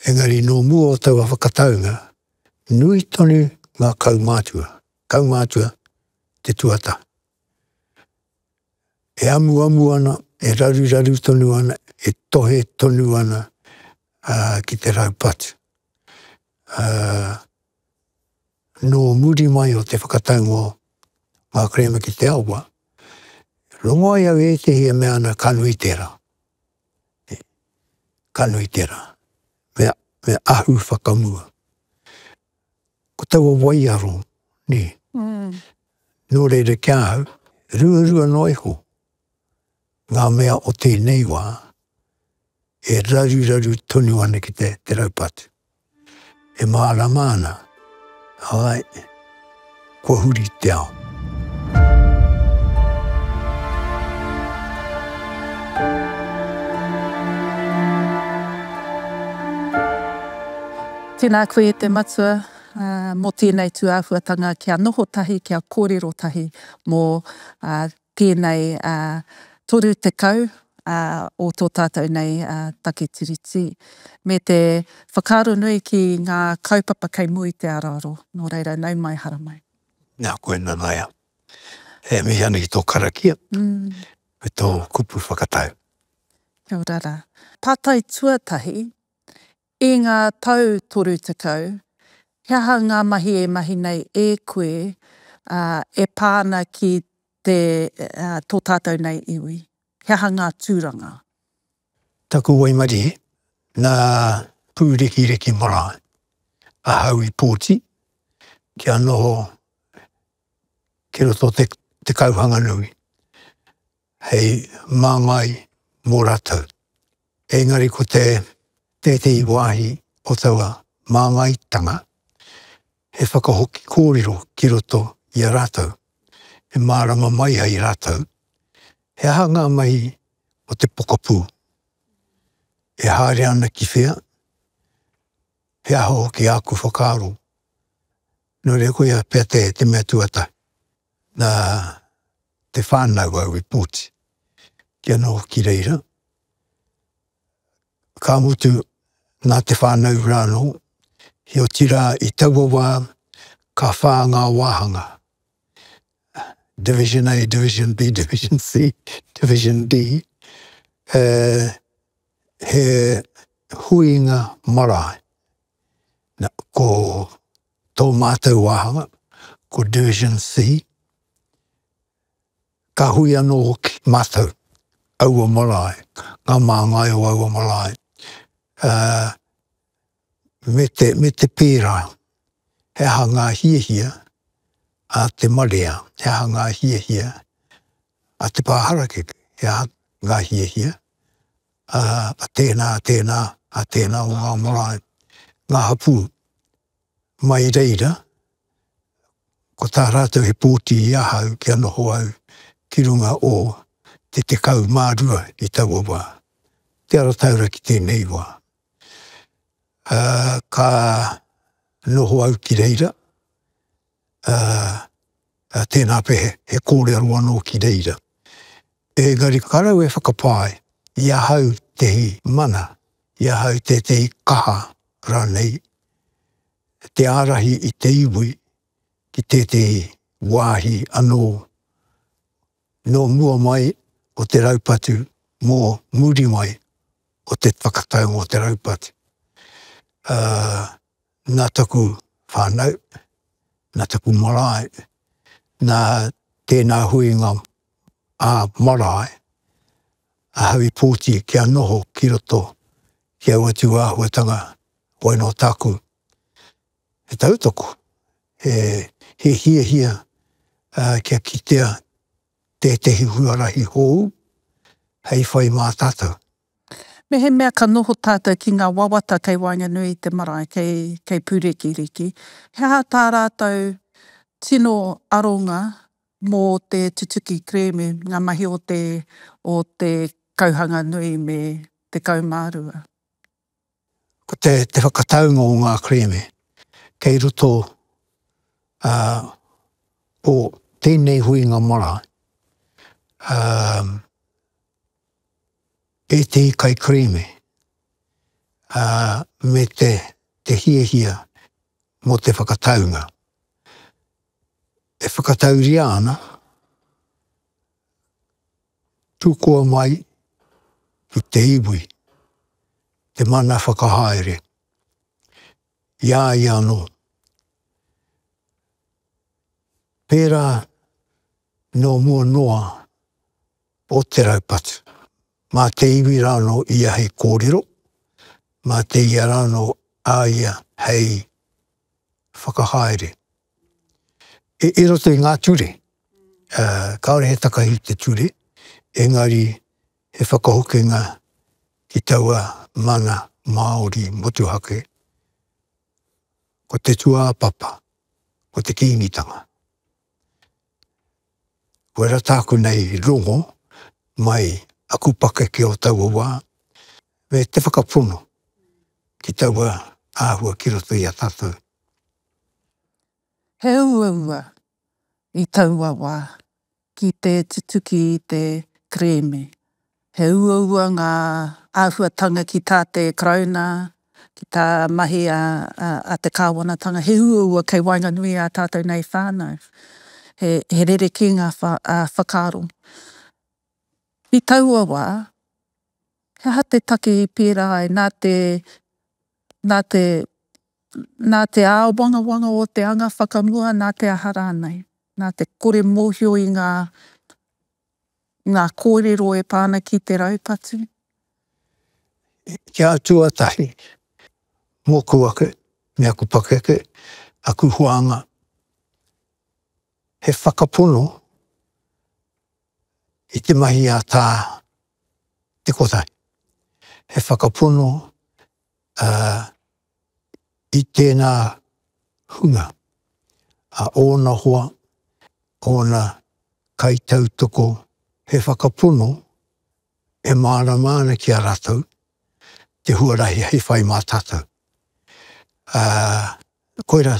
Engari nō mua o taua whakataunga, nui tonu ngā kaumātua, kaumātua te tuata, e amuamu ana, e raruraru tonu ana, e tohe tonu ana ki te raupatu. Nō muri mai o te whakataunga o ngā kerēme ki te awa, rongo ai au ētehi e mea ana ka nui tērā. he kanu i tērā, me, me ahu whakamua. Ko taua waiaro, nē, nō reira ki ahau, ruarua noa iho ngā mea o tēnei wā e raruraru tonu ana ki te, te raupatu. E mārama ana, āe, kua huri te ao. Tēnā koe e te Matua mō tēnei tūāhuatanga kia noho tahi, kia kōrero tahi mō tēnei 30 o tō tātou nei take Tiriti, me te whakaaro nui ki ngā kaupapa kei mua i te araaro, nō reira, nau mai, hara mai. Nā koe Nanaia, e mihi ana ki tō karakia me tō kupu whakatau. Kia ora rā. Pātai tuatahi, I ngā tau 30, he aha ngā mahi e mahi nei e koe e pā ana ki te tō tātou nei iwi? He aha ngā tūranga? Taku waimarie, nā Pūrekireki marae ahau i pōti kia noho ki roto o Te Kauhanganui. hei māngai mō rātou. Engari ko te tētehi wāhi o taua māngaitanga, he whakahoki kōrero ki roto i a rātou, e mārama mai ai rātou he aha ngā mahi o te pokapū, e haere ana ki whea, he aha hoki āku whakaaro. Nō reira koia pea te mea tuatahi, nā, te whānau au i pōti. Ki anō hoki reira, ka mutu nā te whānau rānō, heoti rā i taua wā ka whā ngā wāhanga, Division A, Division B, Division C, Division D, e, he huinga marae. Nā, ko Tō mātou wāhanga ko Division C. Ka hui anō hoki mātou, aua marae, ngā māngai o aua marae, me te pērā, he aha ngā hiahia a te marea, he aha ngā hiahia a Te Pā Harakeke, he aha ngā hiahia, a tēnā, a tēnā, a tēnā o ngā marae, ngā hapū, mai reira, ko tā rātou he pōti i ahau kia noho au ki runga o te tekau mā rua i taua wā, te ara taura ki tēnei wā. Ā, ka noho au ki reira, tēnā pea he kōrero anō ki reira. Engari karau e whakapae i ahau tēhi mana, i ahau tētehi kaha rānei, te ārahi i te iwi ki tētehi wāhi anō nō mua mai o te raupatu, mō muri mai o te whakatau mō te raupatu. nā taku whānau, nā taku marae, nā tēnā huinga ā marae, ahau i pōti kia noho ki roto ki aua tū āhuatanga, wai nō tāku he tautoko, he hiahia kia kitea tētehi huarahi hou hei whai mā tātou. Mehemea ka noho tātou ki ngā wawata kei waenganui i te marae, kei, kei Pūrikiriki, he aha tā rātou tino aronga mō te tutuki kerēme, ngā mahi o te, o te kauhanga nui me 12? Ko te whakataunga o ngā kerēme kei roto o tēnei huinga marae, ētehi kaikerēme me te hiahia mō te whakataunga. E whakatauria ana. Tukua mai ki te iwi te mana whakahaere i a ia anō. Pērā nō mua noa o te raupatu, mā te iwi rānō ia hei kōrero, mā te ia rānō a ia hei whakahaere. I roto i ngā ture, kāore he takahi i te ture, engari he whakahokinga ki taua mana Māori motuhake, ko te tūāpapa, ko te Kīngitanga. Kua rata aku nei i rongo mai aku pakeke o taua wā, me te whakapono ki taua āhua ki roto i a tātou. He uaua i taua wā ki te tutuki i te kerēme. He uaua ngā āhuatanga ki tā te Karauna, ki tā mahi a te Kāwanatanga, he uaua kei waenganui i a tātou nei whānau. He rerekē ngā whakaaro. I taua wā, he aha te take i pērā ai nā te Nā te āwangawanga o te anga whakamua nā te aha rānei, nā te kore mōhio i ngā ngā kōrero e pā ana ki te raupatu. Kia tuatahi, mōku ake me aku pakeke, aku huānga, he whakapono i te mahi a Tā Te Kotahi, he whakapono i tēnā hunga, a ōna hoa, ōna kaitautoko he whakapono e mārama ana ki a rātou te huarahi hei whai mā tātou. Ā, koirā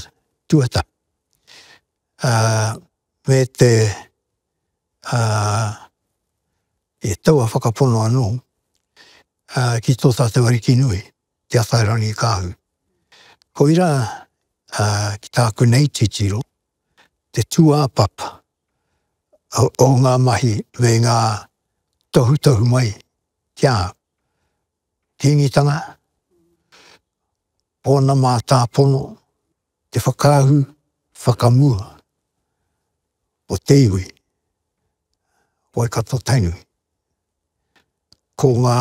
tuatahi, ā, me te, ā, i taua whakapono anō, ā, ki tō tātou Ariki nui, Te Atairangikaahu. Koira ki tāku nei titiro, te tūāpapa o ngā mahi me ngā tohutohu mai ki a au. Kīngitanga, ōna mātāpono, te whakaahu whakamua o te iwi, Waikato-Tainui. ko ngā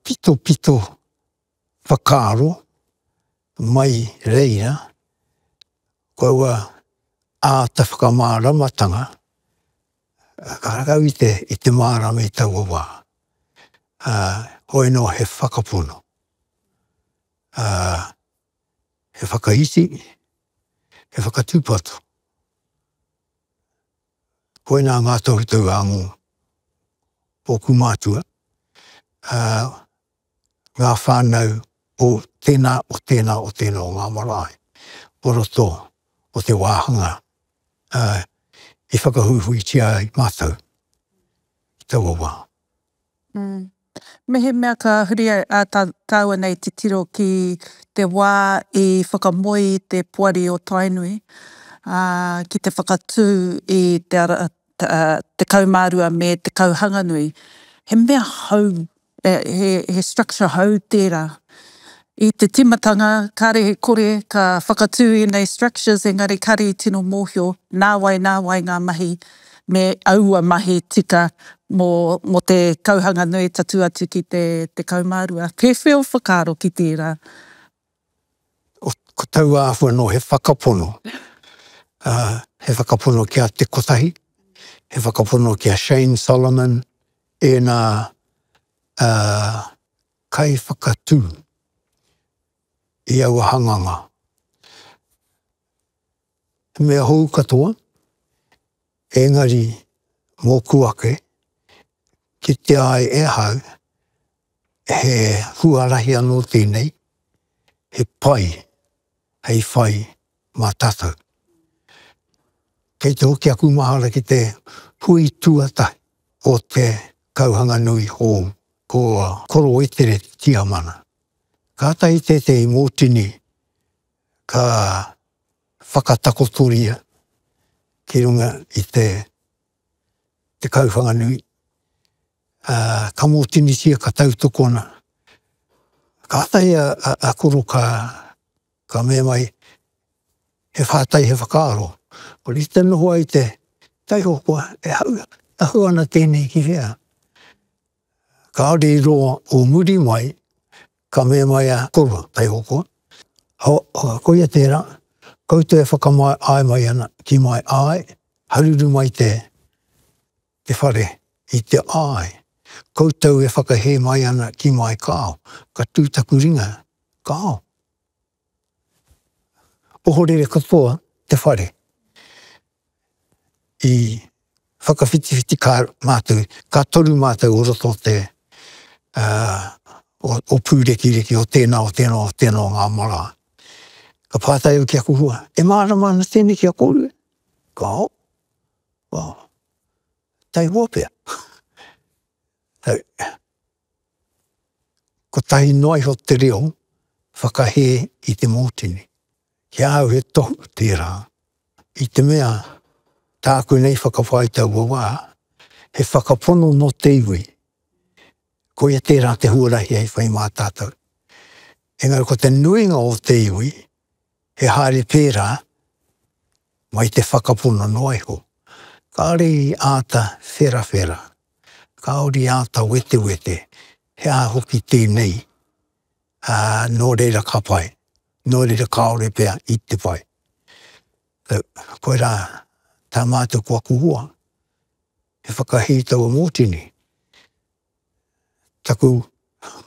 pitopito whakaaro mai reira, ko aua āta whakamāramatanga ka rakau i te, i te mārama i taua wā. Ā, hoi nō he whakapono, ā, he whakaiti, he whakatūpato. Koinā ngā tohutohu a ngō ōku mātua, ā, ngā whānau o tēnā, o tēnā, o tēnā o ngā marae o roto o te wāhanga, ā, i whakahuihuitia ai mātou i taua wā. Mehemea ka huri tāua nei titiro ki te wā i whakamoe i te Poari o Tainui ki te whakatū i te ara 12 me Te Kauhanganui, he mea hou, he structure hou tērā. I te timatanga, kare he kore ka whakatū ēnei structures engari kare i tino mōhio nāwai nāwai ngā mahi me aua mahi tika mō te kauhanga nui tatū atu ki te 12. He wheo whakaaro ki tērā. Ko taua āhua anō he whakapono, he whakapono ki a Te Kotahi, he whakapono ki a Shane Solomon, ēnā kaiwhakatū i aua hanganga. He mea hou katoa, engari mōku ake, kitea ai e ahau, he huarahi anō tēnei, he pai hei whai mā tātou. Kei te hoki aku mahara ki te hui tuatahi o te kauhanga nui hou, ko Korowetere Tiamana. Kātahi tētehi mōtini ka whakatakotoria ki runga i te kauwhanga nui, ka mōtinitia, ka tautokona. Kātahi a Koro ka Ka mea mai, He whātai, he whakaaro. Ko te te noho ai te taiho koa, e hau, tahu ana tēnei ki hea? Kāore i roa o muri mai, ka mea mai a Koro, taiho koa, Ho, ho, koia tērā, koutou e whakamae āe mai ana, ki mai āe, haruru mai te, te whare i te āe, koutou e whakahē mai ana ki mai kāo, ka tū taku ringa kāo. Ohorere katoa te whare i whakawhitiwhiti kā mātou, ka toru mātou o roto o te, o Pūrekireki, o tēnā, o tēnā, o tēnā o ngā marā. Ka pātai au ki aku hua, e mārama ana tēnei ki a kōrua? Kāo. Oh. Tai hua pea. Hei. Kotahi noa iho te reo whakahē i te mōtene. Ki a au he tohu tērā. I te mea, tāku nei whakawhā i taua wā, he whakapono nō te iwi. Koia tērā te huarahi hei whai mā tātou. Engari ko te nuinga o te iwi, He haere tērā, mai te whakapono noa iho, kāore i āta wherawhera, kāore i āta wetewete he aha hoki tēnei, ā, nō reira ka pai, nō reira kāore pea i te pai. Koirā tā mātou ko aku hoa, he whakahī taua mōtini, taku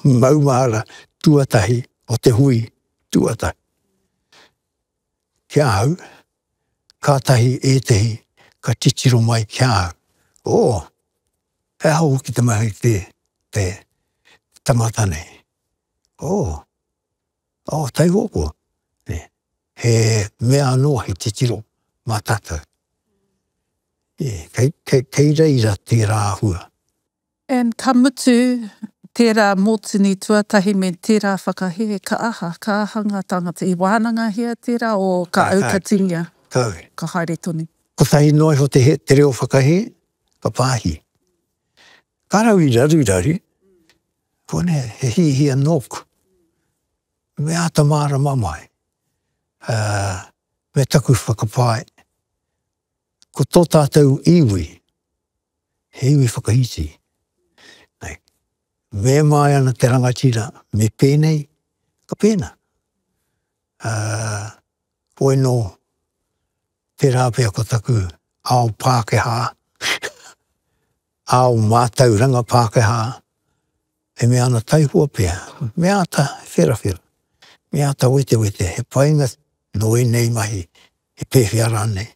maumahara tuatahi o te hui tuatahi. Ki ahau, kātahi ētehi ka titiro mai ki ahau, Oh, he aha hoki te mahi te tangata nei? Oh. Oh, Taihopo, he mea anō, he titiro mā tātou. Kei reira tērā āhua. And ka mutu, tērā mōtini tuatahi me tērā whakahē, ka aha, ka aha ngā tāngata? I wānangahia tērā o ka aukatingia? Kāore. Ka haere tonu. Kotahi noa iho te reo whakahē, ka pāhi. Ka rau i raruraru, Konei he hiahia nōku, me āta mārama mai me taku whakapae, ko tō tātou iwi, he iwi whakaiti, me māia ana te rangatira me pēnei, ka pēnā. Koe nō tērā pea ko taku ao Pākehā. Ao mātauranga Pākehā e mea ana taihua pea, me āta wherawhera, me āta wetewete he painga nō ēnei mahi he pēwhea rānei.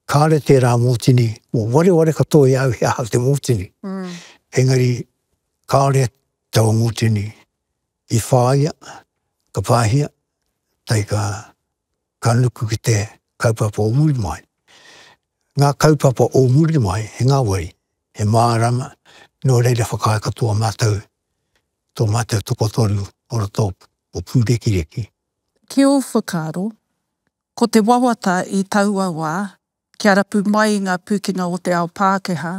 Kāre tērā mōtini, kua wareware katoa i a au he aha te mōtini, engari kāore taua mōtini i whāia, ka pāhia, tae ka ka nuku ki te kaupapa o muri mai. Ngā kaupapa o muri mai, he ngāwari, he mārama, nō reira whakaae katoa mātou tō mātou tokotoru o roto o Pūrekireki. Ki ō whakaaro, ko te wawata i taua wā kia rapu mai ngā pūkenga o te ao Pākehā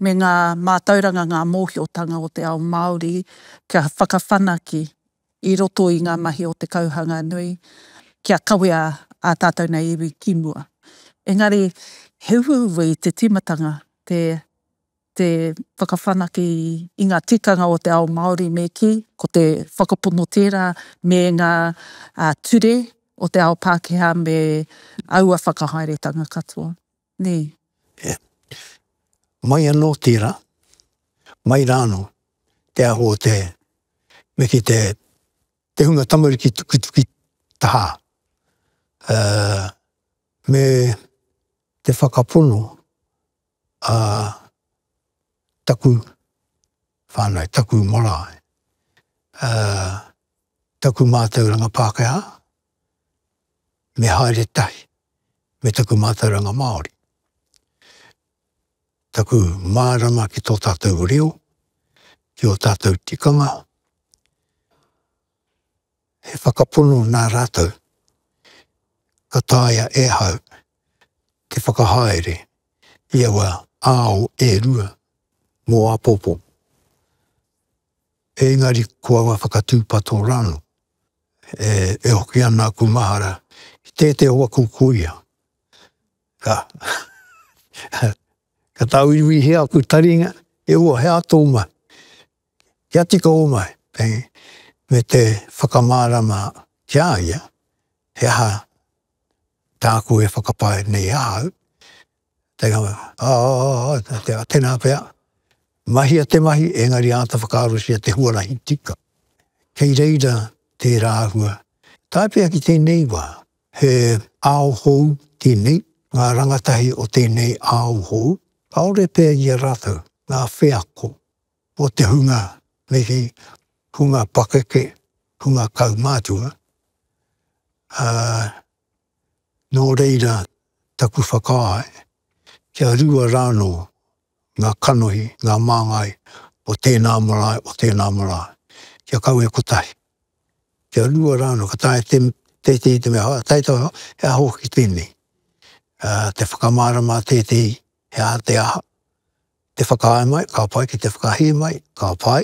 me ngā mātauranga, ngā mōhiotanga o te ao Māori kia whakawhanake i roto i ngā mahi o te kauhanga nui kia kawea ā tātou nei iwi ki mua. Engari he ueuē i te tīmatanga te. te whakawhanake i ngā tikanga o te ao Māori me kī, ko te whakapono tērā me ngā ture o te ao Pākehā me aua whakahaeretanga katoa. Nē. Ē. Mai anō tērā, mai rā anō te aho o te, me kī, te, te hunga tamariki tukituki tahā. Ā, me te whakapono. Ā, taku whānau, taku marae, ā, taku mātauranga Pākehā, me haere tahi me taku mātauranga Māori. Taku mārama ki tō tātou reo, ki ō tātou tikanga, He whakapono nā rātou ka taea e ahau te whakahaere i aua ao e rua mō āpōpō, ēngari ko aua whakatūpato rānō e hoki ana aku mahara ki tētehi o aku kuia. Ka tāuiuihia aku taringa, E hoa, he aha tō mahi? Kia tika omai, hei, me te whakamārama ki a ia, he aha tāku e whakapae nei ahau, te, ā, ā, tēnā pea, mahia te mahi, engari āta whakaarosia te huarahi tika. Kei reira tērā āhua. Tae pea ki tēnei wā, he ao hou tēnei, ngā rangatahi o tēnei ao hou, kāore pea i a rātou ngā wheako. o te hunga mihi, hunga pakeke, hunga kaumātua, ā, nō reira taku whakaāe kia rua rānō ngā kanohi, ngā māngai o tēnā marae, o tēnā marae, kia kawe kotahi, kia rua rānō, ka taea tētehi te mea, taea te mea, he aha hoki tēnei, te whakamārama a tētehi he aha te aha, Te whakaae mai, ka pai, ki te whakahē mai, ka pai.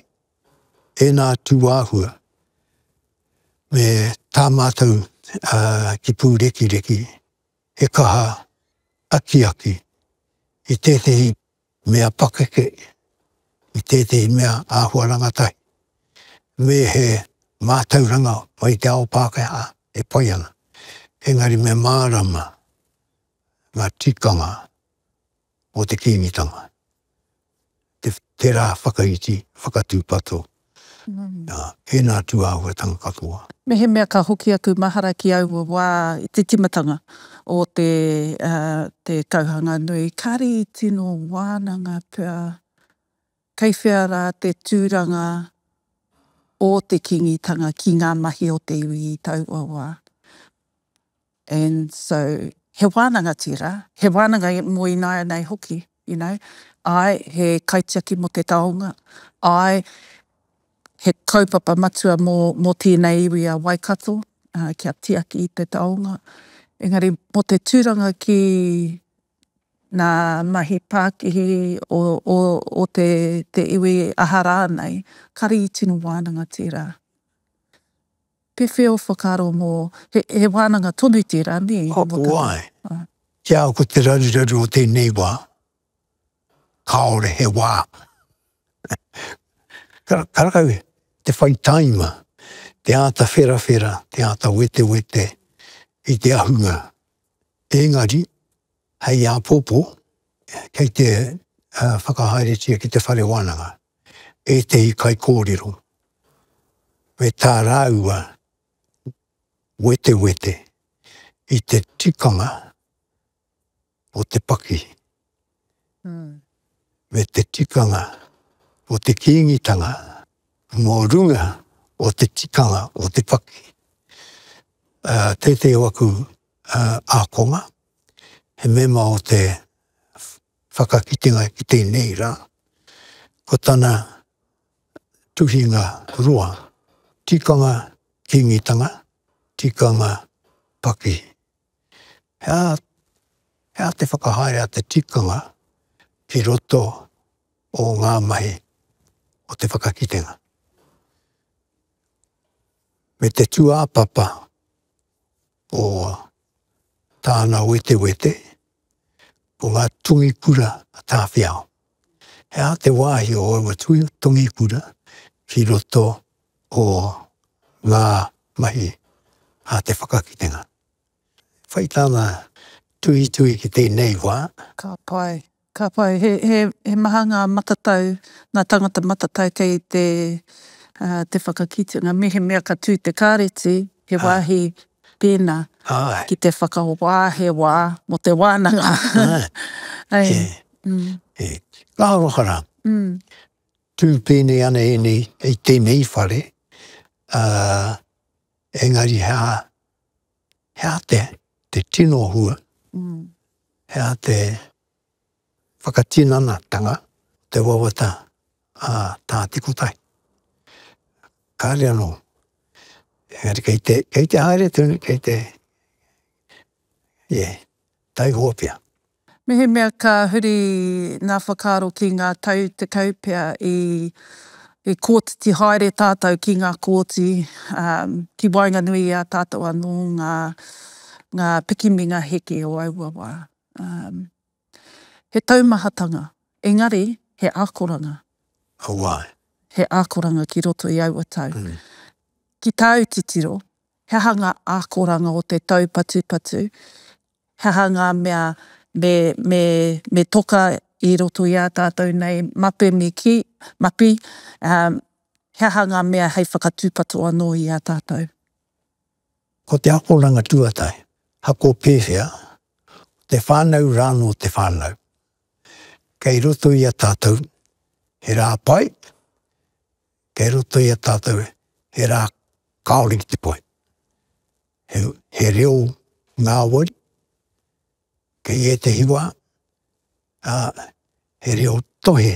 Ēnā tūāhua, me tā mātou ki Pūrekireki, he kaha akiaki i tētehi mea pakeke, i tētehi mea āhua rangatahi, me he mātauranga mai te ao Pākehā e pai ana. Engari me mārama ngā tikanga mō te Kīngitanga, te tērā whakaiti, whakatūpato, ā, ēnā tūāhuatanga katoa. Mehemea ka hoki aku mahara ki aua wā i te timatanga o te, ā, te tauhanga nui, kāre i tino wānanga pea kei whea rā te tūranga o te Kīngitanga ki ngā mahi o te iwi i taua wā. and so he wānanga tērā, he wānanga mō ināianei hoki, you know, āe, he kaitiaki mō te taonga, āe, he kaupapa matua mō tēnei iwi a Waikato kia tiaki i te taonga, engari mō te tūranga ki ngā mahi pākihi o te iwi aha rānei, kare i tino wānanga tērā. Pewhea o whakaaro mō, he wānanga tonu tērā, nē? Oai, ki a au ko te raruraru o tēnei wā, kāore he wā. Karekau te whai tāima, te āta wherawhera, te āta wetewete i te ahunga. Engari, Hei āpōpō, kei te whakahaeretia ki te whare wānanga ētehi kaikōrero me tā rāua wetewete i te tikanga o te paki me te tikanga o te Kīngitanga mō runga o te tikanga o te paki. Tētehi o aku ākonga, he mema o te whakakitenga ki tēnei rā, ko tana tuhinga roa, tikanga Kīngitanga, tikanga pakihi. He aha, he aha te whakahaere a te tikanga ki roto o ngā mahi o te whakakitenga? Me te tūāpapa. o tāna wetewete, ko ngā tungi kura a Tāwhiao. He aha te wāhi o aua tungi kura ki roto o ngā mahi a te whakakitenga? Whai tāna tuhituhi ki tēnei wā. Ka pai. Ka pai, he maha ngā matatau, ngā tāngata matatau kei te whakakitenga. Mehemea ka tū te kāreti, he wāhi pēnā ki te whakahoa he wā mō te wānanga. Ngā aroha rā, tū pēnei ana ēnei i tēnei whare, engari he aha, He aha te, te tino hua, he aha te whakatinanatanga o te wawata a Tā Te Kotai? Kāre anō. Engari kei te, kei te haere tonu, kei te, yeah, taihoa pea. Mehemea ka huri ngā whakaaro ki ngā tau tekau pea i kotiti haere tātou ki ngā kooti, ki waenganui i a tātou anō ngā pikiminga heke o aua wā. He taumahatanga, engari he akoranga. Ko wai? He akoranga ki roto i aua tau. Ki tāu titiro, he aha ngā akoranga o te taupatupatu He aha ngā mea me toka i roto i a tātou nei mape me kī, mapi? He aha ngā mea hei whakatūpato anō i a tātou? Ko te akoranga tuatahi, hako pēwhea, ko te whānau rānō te whānau. Kei roto i a tātou he rā pai, kei roto i a tātou he rā kāore ki te pai. He, he reo ngāwari, kei ētehi wā, ā, he reo tohe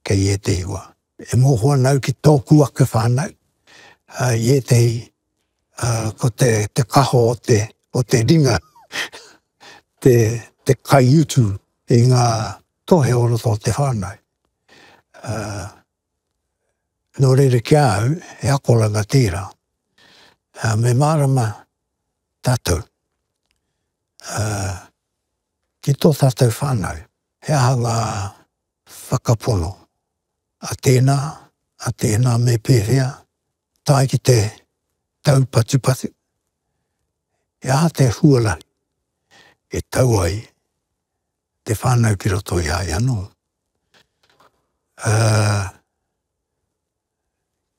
kei ētehi wā. E mōhio ana au ki tōku ake whānau, ā, i ētehi, ā, ko te, te kaho o te, o te ringa, te, te kaiutu i ngā tohe o roto o te whānau. Ā, Nō reira ki a au, he akoranga tērā. Me mārama tātou ki tō tātou whānau, he aha ngā whakapono a tēnā, a tēnā me pēwhea tae ki te taupatupatu, he aha te huarahi e tau ai te whānau ki roto i a ia anō. Ā,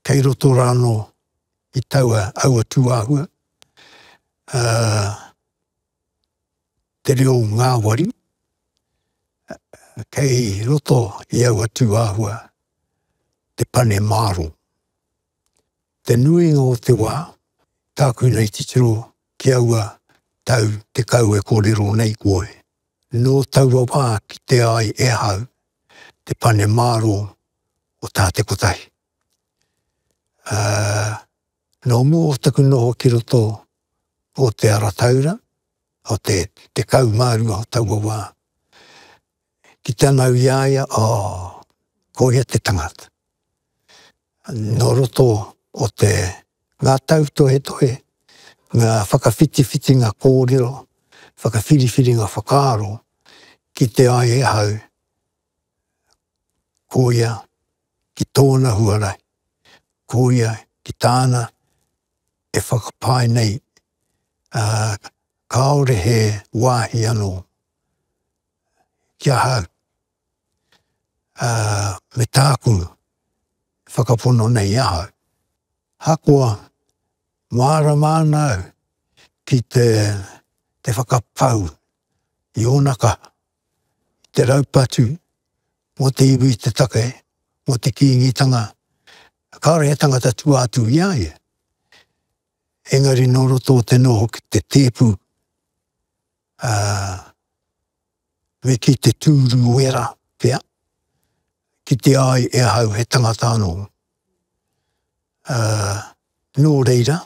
kei roto rā anō i taua, aua tūāhua, ā, te reo ngāwari, kei roto i aua tūāhua te pane māro. Te nuinga o te wā, tāku nei titiro ki aua tau tekau e kōrero nei koe. Nō taua wā kitea ai e ahau te pane mārō o tā te kotahi. Ā, nō mua o taku noho ki roto o Te Ara Taura, o te tekau mā rua o taua wā, Ki te anau i a ia, oh, ko ia te tangata. Nō roto o te, ngā tautohetohe, ngā whakawhitiwhitinga kōrero, whakawhiriwhiringa whakaaro, kite ai e hau, ko ia, ki tōna huarahi, ko ia, ki tāna, e whakapae nei, ā, kāore he wāhi anō. ki ahau, ā, me tāku e whakapono nei i ahau. Ahakoa, mārama ana au ki te, te whakapau i ōna kaha, i te raupatu mō te iwi i te take, mō te Kīngitanga, kāore he tangata tua atu i a ia. Engari nō roto o te noho ki te tēpu, ā, me kī te tūru wera pea, kitea ai e ahau he tangata anō. Ā, nō reira,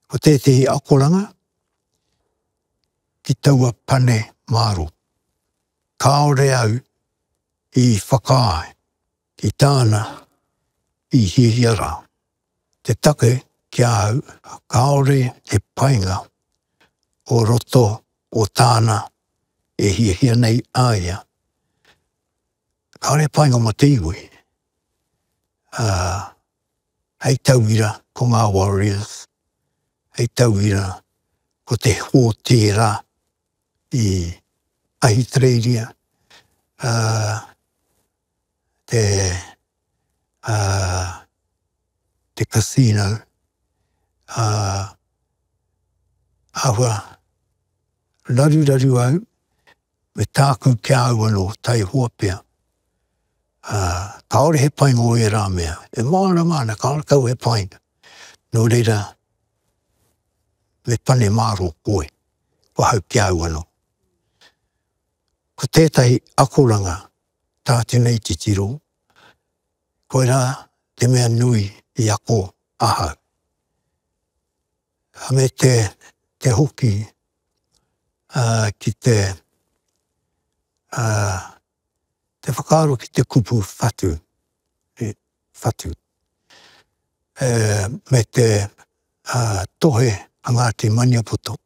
ko tētehi akoranga ki taua pane mārō, kāore au i whakaae. Ki tāna, i hiahia rā te take ki a au kāore he painga o roto o tāna e hiahia nei a ia. Kāore he painga mō te iwi, ā, hei tauira ko ngā Warriors, hei tauira ko te hōtēra i Ahitereiria, ā, te te casino āhua raruraru au me tāku ki a au anō taihoa pea. Kāore he painga o ērā mea, e mārama ana kāore kau he painga, nō reira me pane māro koe ko au ki a au anō. Ko tētahi akoranga Tā tēnei titiro, koirā te mea nui i ako ahau. Me te, te hoki uh, ki te, uh, te whakaaro ki te kupu whatu. E, whatu. E, me te uh, tohe a Ngāti Maniapoto.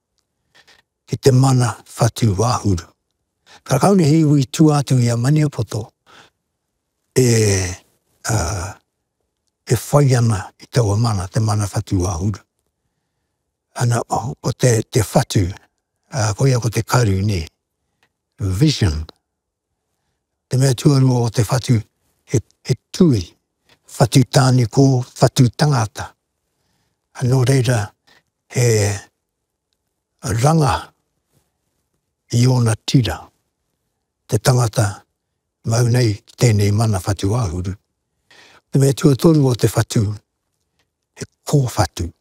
ki te mana whatu wahuru. Ka kaone he iwi tua atu i a Maniapoto e whai ana i taua mana, te mana whatu wahuru. Ana, ko te whatu, koia ko te karu, ne, vision. Te mea tuarua o te whatu, he, he tui, whatu tānikō, whatu tangata. Nō reira, he ranga i ōna tira te tangata mau nei ki tēnei mana whatu āhuru. Te mea tuatoru o te whatu, he kōwhatu,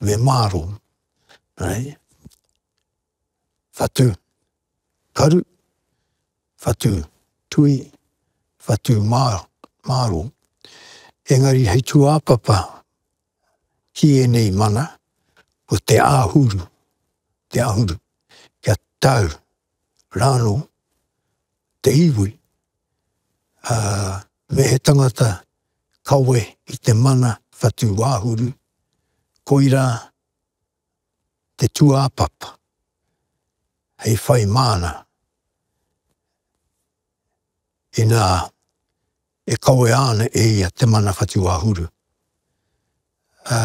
me māro. Right? whatu, karu, whatu, tui, whatu, mā, māro. Engari hei tūāpapa ki ēnei mana, ko te āhuru, te āhuru, kia tau rānō te iwi, ā, me he tangata kawe i te mana whatu āhuru, koirā te tūāpapa hei whai māna inā e kawea ana e ia te mana whatuwāhuru. Ā,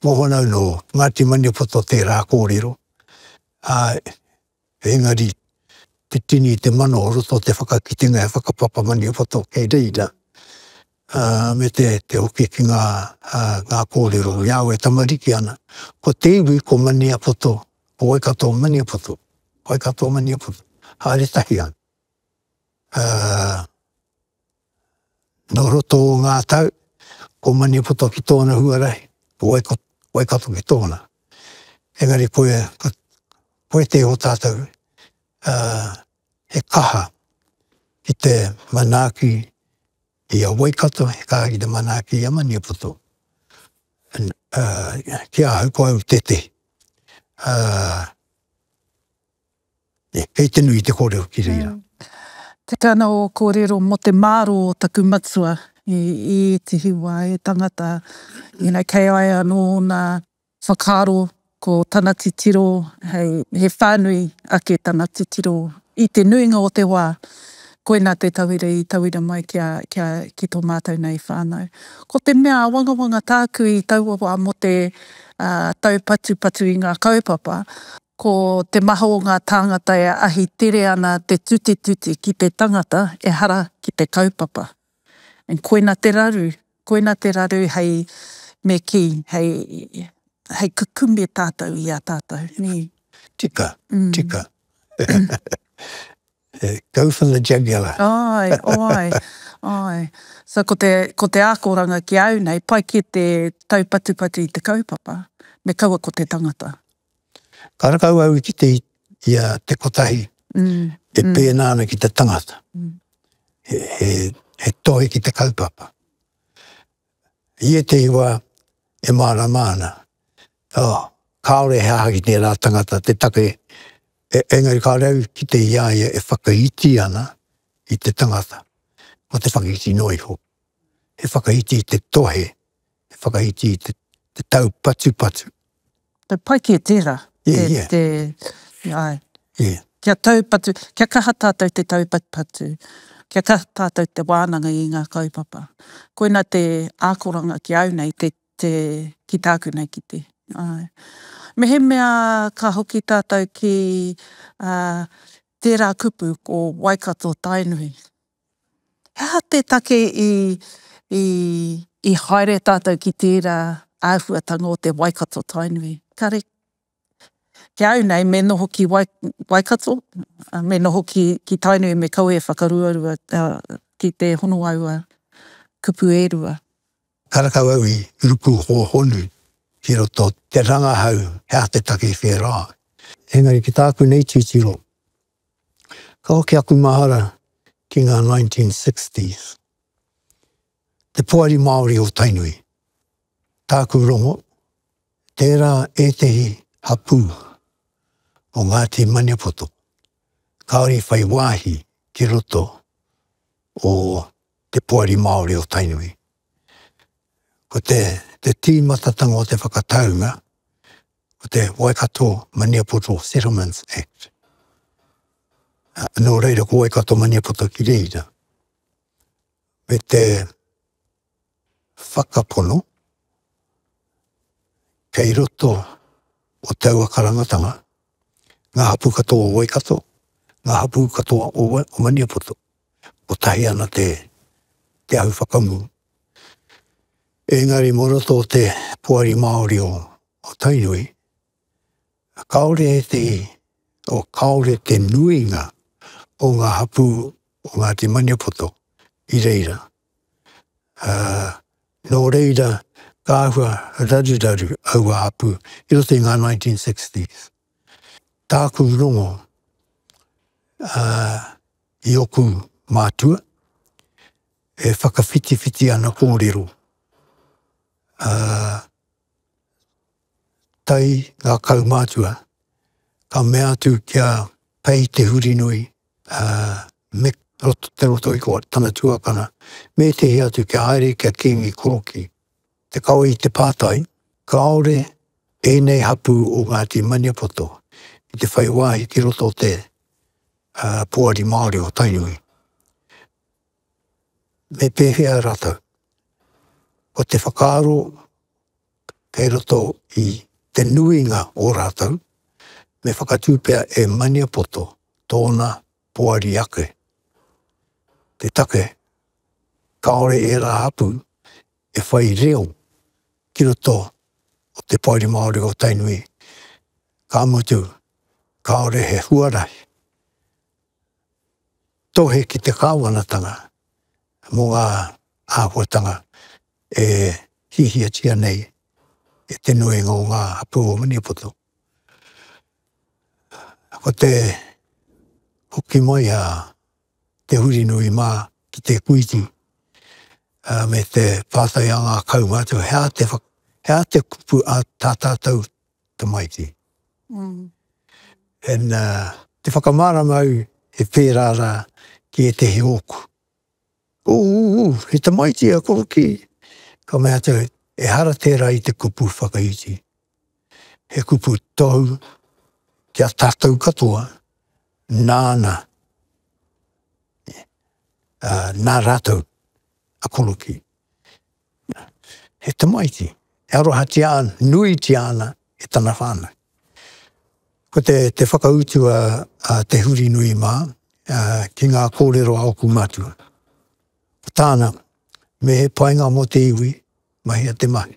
mōhona nō Ngāti Maniapoto tērā kōrero, ā, Engari, te tini i te mana o roto o te whakakitenga e Whakapapa Maniapoto kei reira, ā, me te, te hoki ki ngā, ngā kōrero i a au e tamariki ana, ko te iwi ko Maniapoto, ko Waikato Maniapoto, Waikato Maniapoto, haere tahi ana. Ā, Nō roto o ngā tau, ko Maniapoto ki tōna huarahi, ko Waikato ki tōna. Engari koe, koe te o tātou he kaha ki te manaaki i a Waikato, he kaha ki te manaaki i a Maniapoto. Ki ahau ko au tētehi. Kei te nui te kōrero ki reira. Tika ana ō kōrero mō te mārō o taku matua i ētehi wā, he tangata ina kei ai anō ōna whakaaro ko tana titiro hei, he whānui ake tana titiro i te nuinga o te wā, koina te tauira i tauira mai ki tō mātou nei whānau. Ko te mea āwangawanga tāku i taua wā mō te taupatupatu i ngā kaupapa, Ko te maha o ngā tāngata e ahi tere ana te tutituti ki te tangata ehara ki te kaupapa. And koina te raru, koina te raru hei me kī, hei, hei kukume tātou i a tātou, nē? Tika, tika. Go for the jugular. Āe, āe, āe. So ko te, ko te ākoranga ki a au nei, pai kē te taupatupatu i te kaupapa, me kaua ko te tangata. Ka rakau au i kite i a te kotahi e pēnā ana ki te tangata, he tohe ki te kaupapa. I ētehi wā e mārama ana, oh, kāore he aha ki tērā tangata te take, engari kāore au i kite i a ia e whakaiti ana i te tangata, mō te whakaiti noa iho, he whakaiti i te tohe He whakaiti i te taupatupatu. Te pai kē tērā. Ia, ia. Te, te, ai. Ia. Kia taupatu, kia kaha tātou te taupatupatu, kia kaha tātou te wānanga i ngā kaupapa. Koina te ākoranga ki au nei, te, te, ki tāku nei, ki te, ai. Mehemea ka hoki tātou ki, ā, tērā kupu ko Waikato-Tainui. He aha te take i haere tātou ki tērā āhuatanga o te Waikato-Tainui? Kāre, ki a au nei, me noho ki Waikato, me noho ki Tainui me kaua e whakaruarua ki te hono aua kupu e rua. Karekau au i ruku hōhonu ki roto te rangahau he aha te take i whērā ai. Engari ki tāku nei titiro, Ka hoki aku mahara ki ngā 1960s. Te Poari Māori o Tainui. Tāku rongo, tērā ētehi hapū o Ngāti Maniapoto kāore i whai wāhi ki roto o Te Poari Māori o Tainui. Ko te tīmatatanga o te whakataunga, ko te Waikato Maniapoto Settlements Act. Nō reira ko Waikato Maniapoto ki reira. Me te whakapono kei roto o taua karangatanga ngā hapū katoa o Waikato, ngā hapū katoa o Maniapoto. Kotahi ana te, te ahu whakamu Engari mō roto o te Poari Māori o Tainui, kāore e te, o kāore te nuinga o ngā hapū o Ngāti Maniapoto i reira. Nō reira ka āhua raruraru aua hapū i roto i ngā 1960s. Tāku rongo i oku mātua, E whakawhitiwhiti ana kōrero, ā, tae ngā kaumātua, ka mea atu ki a Pei Te Hurinui, ā, me roto te roto i ko tana tuakana, me ētehi atu kia haere ki a Kīngi Koroki. Te kawe i te pātai, kāore ēnei hapū o Ngāti Maniapoto i te whai wāhi ki roto o te, ā, Poari Māori o Tainui. me pēwhea rātou. Ko te whakaaro kei roto i te nuinga o rātou, me whakatū pea e Maniapoto tōna poari ake. Te take, kāore ērā hapū e whai reo ki roto o te Poari Māori o Tainui, ka mutu kāore he huarahi tohe ki te Kāwanatanga mō ngā āhuatanga e hiahiatia nei e te nuinga o ngā hapū o Maniapoto. Ko te hoki mai a Te Hurinui mā ki te Kuiti me te pātai a ngā kaumātua he aha te kupu a tā tātou tamaiti. And te whakamārama au he pērā rā ki ētehi ōku, Ūū, he tamaiti a Korokī! Ka mea atu au, Ehara tērā i te kupu whakaiti. He kupu tou ki a tātou katoa, nāna, nā rātou a Korokī. he tamaiti, e arohatia ana, nuitia ana e tana whānau. Ko te, te whakautu a, a Te Hurinui mā, a, ki ngā kōrero a ōku mātua. Ko tāna, me he painga mō te iwi, mahia te mahi.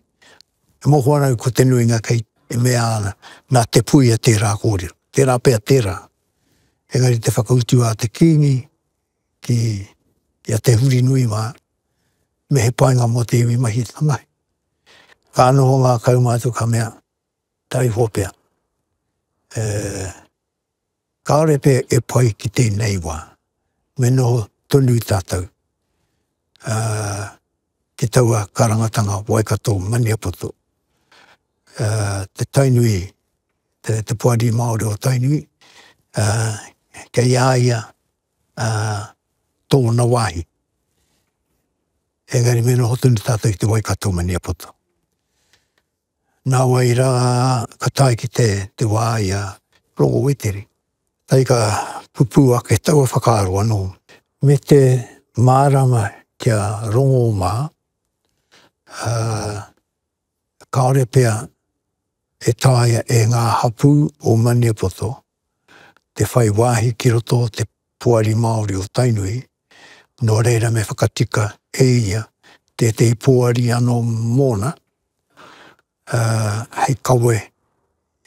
E moho ana au ko te nuinga kei, e mea ana, nā Te Puia tērā kōrero, tērā pea tērā. Engari te whakautu a te Kīngi, ki a Te Hurinui mā, me he painga mō te iwi mahi tamahi. Ka noho ngā kaumātua ka mea, taiho pea, e, kāore pea e pai ki tēnei wā, me noho tonu tātou. Ā. ki taua karangatanga Waikato Maniapoto. Te Tainui, te poari Māori o Tainui, kei a ia tōna wāhi. Engari me noho tonu tātou ki te Waikato Maniapoto. Nāwai rā ka tae ki te wā i a Rongo Weteri. Kai ka pupū ake taua whakaaro anō. Me te mārama ki a Rongo mā, ā, kāore pea e taea e ngā hapū o Maniapoto te whai wāhi ki roto o te poari Māori o Tainui, nō reira me whakatika e ia tētehi poari anō mōna hei kawe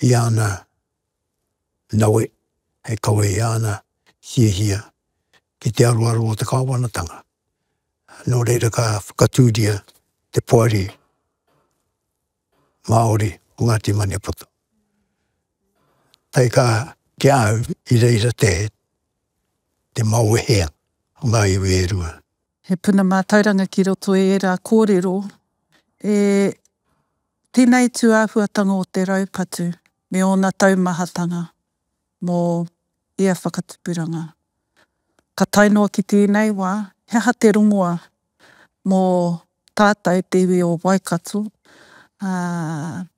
i ana nawe, hei kawe i ana hiahia ki te aroaro o te kāwanatanga. Nō reira ka whakatūria te poari Māori o Ngāti Maniapoto. Taika ki a au i reira te, te maoehea o ngā iwi e rua. He puna mātauranga ki roto i ērā kōrero e tēnei tūāhuatanga o te raupatu me ōna taumahatanga. mō ia whakatupuranga. Ka tae noa ki tēnei wā, he aha te rongoa mō tātou te iwi o Waikato, ā,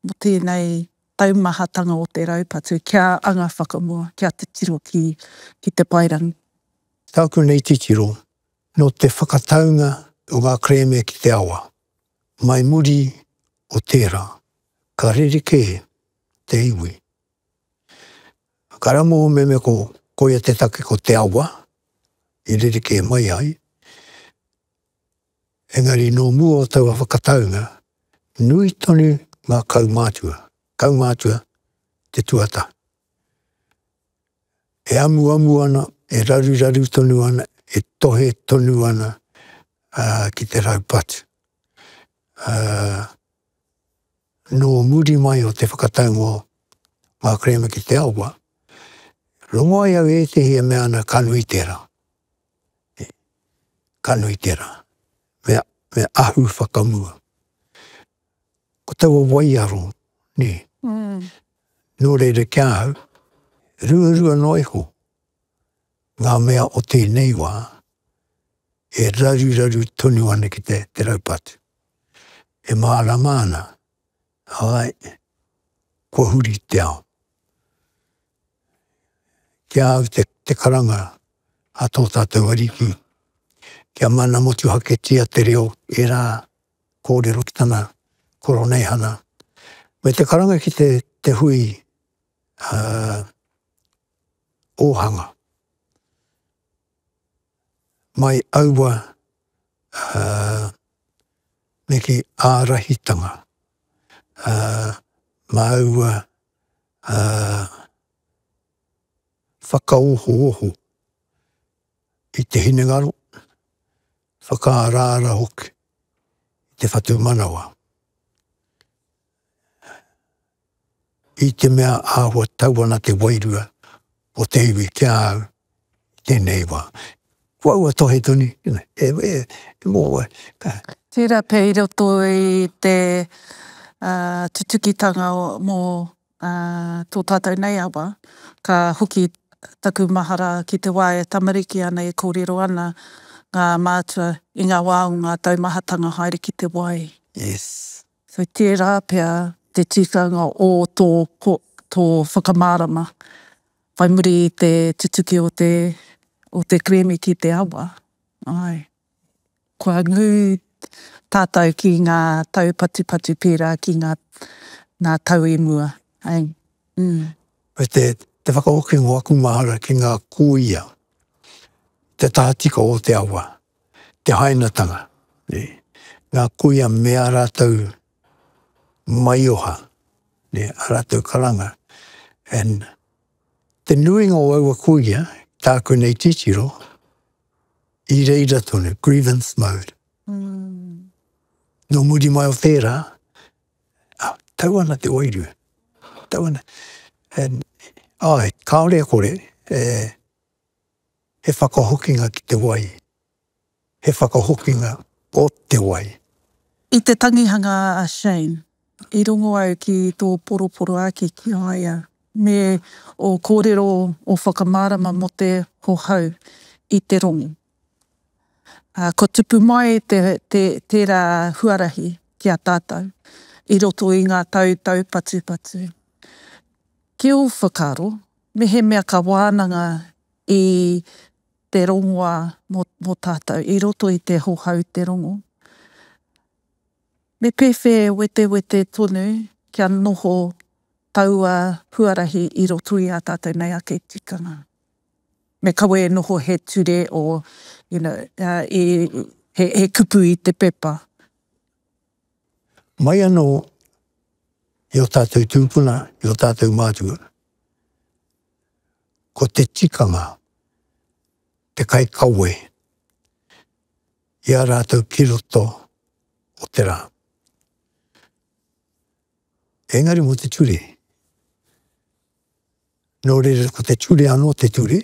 mō tēnei taumahatanga o te raupatu kia anga whakamua, kia titiro ki, ki te paerangi? Tāku nei titiro, nō te whakataunga o ngā kerēme ki te awa. Mai muri o tērā, ka rerekē te iwi. Ka rangō meme ko koia te take ko te awa i rerekē mai ai, engari nō mua o taua whakataunga, nui tonu ngā kaumātua, kaumātua te tuata, e amuamu ana, e raruraru tonu ana, e tohe tonu ana ki te raupatu. Nō muri mai o te whakataunga o ngā kerēme ki te awa, rongo ai au i ētehi e mea ana ka nui tērā. Ka nui tērā. Me, me ahu whakamua. Ko taua waiaro, nē. Nō reira ki ahau, ruarua noa iho Ngā mea o tēnei wā e raruraru tonu ana ki te, te raupatu. E mārama ana, āe, kua huri te ao. Ki a au te, te karanga a tō tātou Ariki, kia mana motuhaketia te reo e rā kōrero ki tana Koroneihana. Me te karanga ki te, te hui, ā, ōhanga mai aua neke ārahitanga mā aua whakaohooho i te hinengaro, whakaaraara hoki i te whatumanawa. I te mea āhua tau ana te wairua o te iwi ki a au i tēnei wā. Ko au a Tohe Toni, e, e, e mō wai, ka. Tērā pea i roto i te tutukitanga mō tō tātou nei awa, ka hoki taku mahara ki te wā e tamariki ana, e kōrero ana ngā mātua i ngā wā o ngā taumahatanga haere ki te wai. Yes. Kei tērā pea te tikanga o tō tō whakamārama whai muri i te tutuki o te o te kerēme ki te awa. Āe. Kua ngū tātou ki ngā taupatupatu pērā ki ngā ngā tau i mua. Āe. Ū. Me te te whakahoki o aku mahara ki ngā kūia, te tahatika o te awa. te hainatanga, ngā kuia me ā rātou maioha, ā rātou karanga. And te nuinga o aua kuia, tāku nei titiro, i reira tonu, grievance mode. Nō muri mai o tērā, tau ana te wairua, tau ana. And, āe, kāore e kore e. He whakahokinga ki te wai. He whakahokinga o te wai. I te tangihanga a Shane, i rongo au ki tō poroporoaki ki a ia, me ō kōrero ō whakamārama mō te hohau i te rongo. Ā, kua tupu mai te, te, tērā huarahi ki a tātou i roto i ngā tau taupatupatu. Ki ō whakaaro, mehemea ka wānanga i te rongoā mō, mō tātou i roto i te hohou te rongo, me pēwhē wetewete tonu kia noho taua huarahi i roto i ā tātou nei ake tikanga? Me kawe e noho he ture o, you know, he kupu i te pepa. Mai anō i ō tātou tūpuna, i ō tātou mātua, ko te tikanga, te kaikawe i a rātou ki roto o te rā. Engari mō te ture. Nō reira ko te ture anō te ture,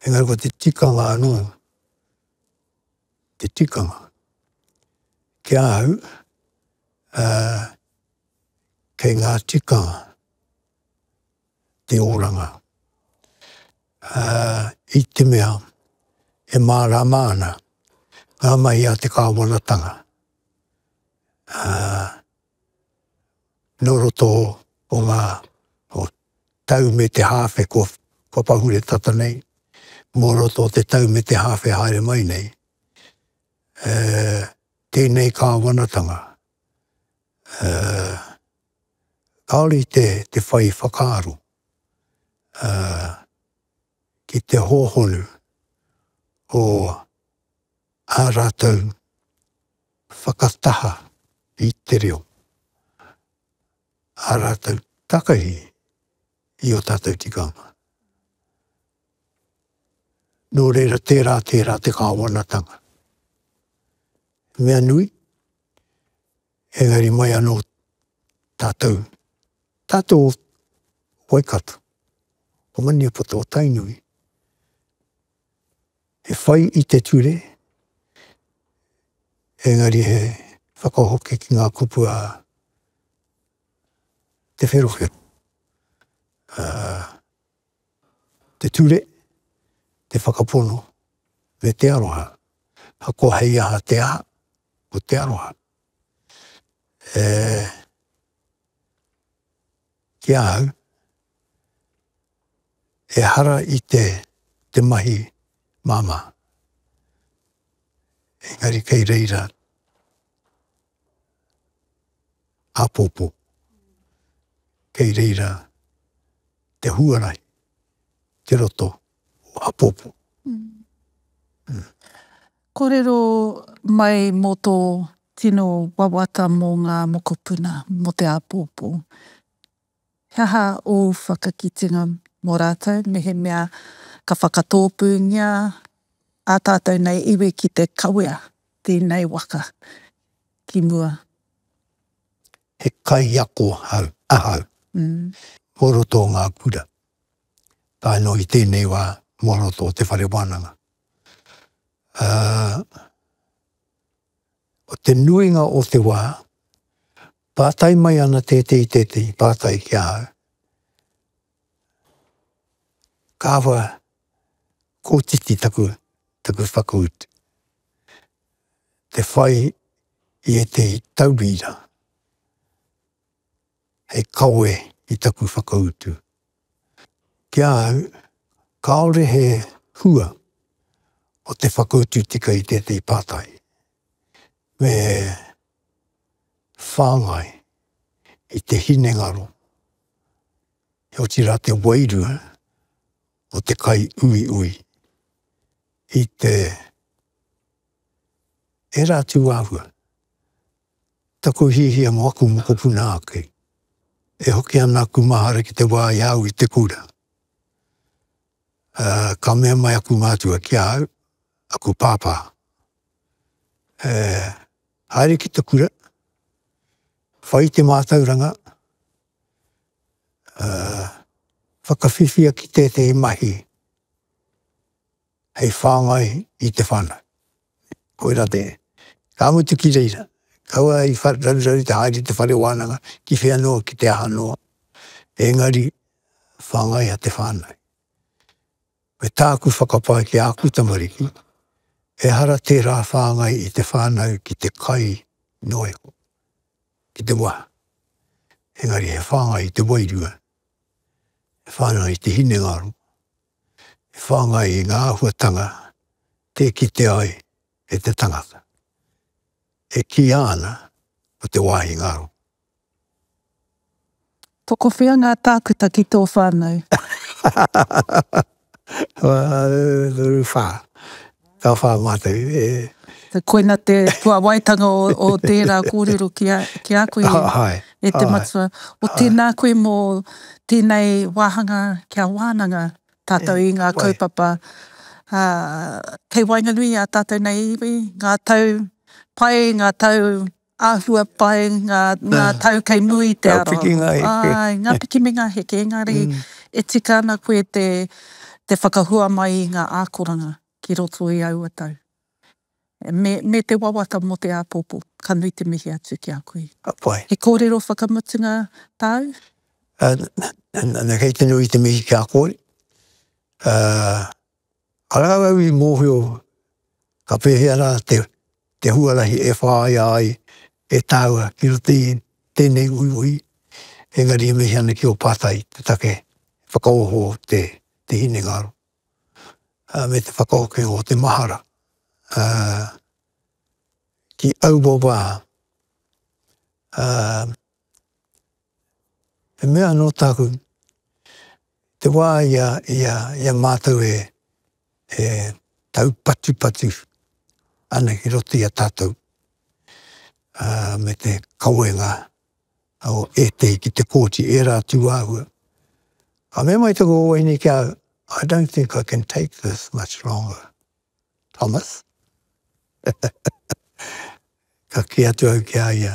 engari ko te tikanga anō te tikanga. Ki ahau, uh, kei ngā tikanga te oranga. Uh, I te mea, e mārama ana ngā mahi a te kāwanatanga. Uh, nō roto o ngā tau me te hāwhe kua pahure tata nei, mō roto o te tau me te hāwhe haere mai nei, e, tēnei Kāwanatanga, e, kāore i te, te whai whakaaro, e, ki te hōhonu o ā rātou, whakataha i te reo, ā rātou takahi i ō tātou tikanga. Nō reira, tērā, tērā te kāwanatanga. He mea nui, engari mai anō tātou, tātou o Waikato, o Maniapoto, o Tainui, He whai i te ture, engari he whakahoki ki ngā kupu a Te Wherowhero. Te ture, te whakapono, me te aroha. Ahakoa hei aha te aha, ko te aroha. Ki ahau, Ehara i te te mahi māmā, engari kei reira āpōpō, kei reira te huarahi i te roto o āpōpō. Kōrero mai mō tō tino wawata mō ngā mokopuna, mō te āpōpō. He aha ōu whakakitenga mō rātou mehemea ka whakatōpūngia ā tātou nei iwi ki te kawea tēnei waka ki mua? He kaiako ahau mō roto o ngā kura, tae noa ki tēnei wā mō roto o te whare wānanga. o te nuinga o te wā, pātai mai ana tētehi, tētehi pātai ki a au. Kāwha kōtiti taku, taku whakautu, te whai i ētehi tauira, hei kawe i taku whakautu. Ki a au, kāore he hua o te whakautu tika i tētahi pātai, me whāngai i te hinengaro, otirā te wairua o te kaiuiui i te ērā tūāhua Taku hiahia mo aku mokopuna ake, e hoki ana aku mahara ki te wa i a au i te kura. Ka mea mai aku mātua ki a au, aku pāpā, E haere ki te kura, whai te mātauranga, whakawhiwhia ki tētehi mahi. hei whāngai i te whānau. Koirā te, ka mutu ki reira, kaua i raruraru te haere i te whare wānanga, ki whea noa, ki te aha noa, engari whāngai a te whānau. Me tāku whakapae ki āku tamariki, ehara tērā whāngai i te whānau ki te kai noa iho, ki te waha. Engari he whāngai i te wairua, he whānau i te hinengaro, e whāngai i ngā āhuatanga tē kite ai e te tangata, e kīia ana ko te wāhi ngaro. Tokowhea ngā tākuta ki tō whānau? Toru whā. Ka whā mātou e. Koina te puawaitanga o tērā kōrero ki a koe e te Matua. O tēnā koe mō tēnei wāhanga kia wānanga tātou i ngā kaupapa kei waenganui i a tātou nei iwi, ngā tau pai, ngā tau Āhua pai ngā tau kei muri i te aroaro. Ngā piki, ngā heke. Āe, ngā piki me ngā heke, engari e tika ana koe te whakahua mai i ngā ākoranga ki roto i aua tau. Me te wawata mō te āpōpō, ka nui te mihi atu ki a koe. Ka pai. He kōrero whakamutunga tāu? Nana, kei te nui te mihi ki a koe. Ka rākau i mōhio ka pēhea rā te huarahi e whāia ai e tāua ki roto i tēnei uiui, engari e mihi ana ki ō pātai te take e whakaoho te hinengaro me te whakahoki o te mahara ki aua wā. He mea anō tāku, te wā i a, i a, i a mātou e, e taupatupatu ana ki roto i a tātou, ā, me te kawenga o ētehi ki te kōti, ērā atu āhua. Ka mea mai taku owe nei ki a au, I don't think I can take this much longer, Thomas. Ka kī atu au ki a ia,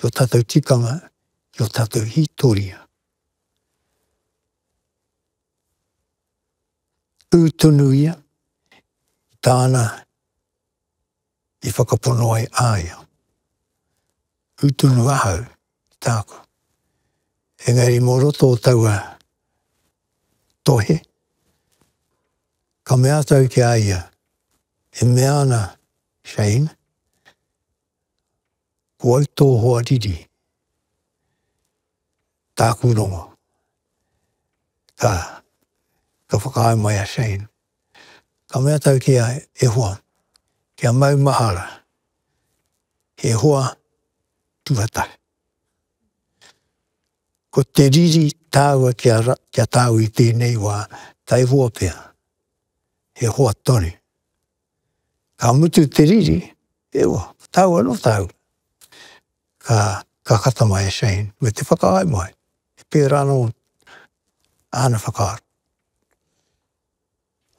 ki ō tātou tikanga, ki ō tātou hītoria. Tū tonu ia i tāna i whakapono ai a ia. Tū tonu ahau i tāku. Engari mō roto o taua tohe, ka mea tau ki a ia, e mea ana Shane, Ko au tō hoa riri, tāku rongo. Ka, ka whakaae mai a Shane, ka mea tau ki a Ihowa, kia maumahara he hoa tuatahi. Ko te riri tāua kia, kia tāu i tēnei wā, tae hoa pea, he hoa tonu. Ka mutu te riri, e wa, tau ano tau, ka, ka kata mai a Shane, me te whakaae mai, e pera ano ana whakaaro.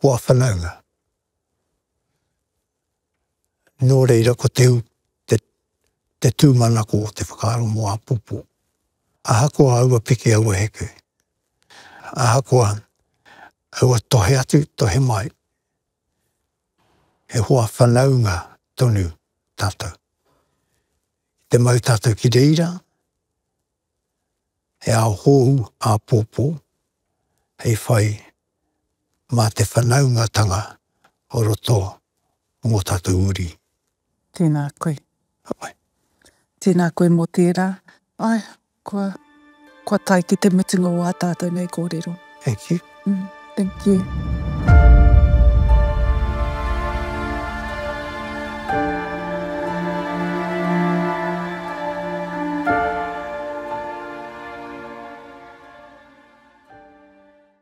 Ko a whanaunga, no reira ko te, te, te tumanako o te whakaaro mo apopo. Ahakoa aua piki aua heke, ahakoa aua tohe atu, tohe mai, He hoa whanaunga tonu tātou. I te mau tātou ki reira, he ao hōu āpōpō hei whai mā te whanaungatanga o roto o ngō tātou uri. Tēnā koe. Tēnā koe mō tērā. Kua, kua tae ki te mutunga o ā tātou nei kōrero. Thank you. Mm, thank you.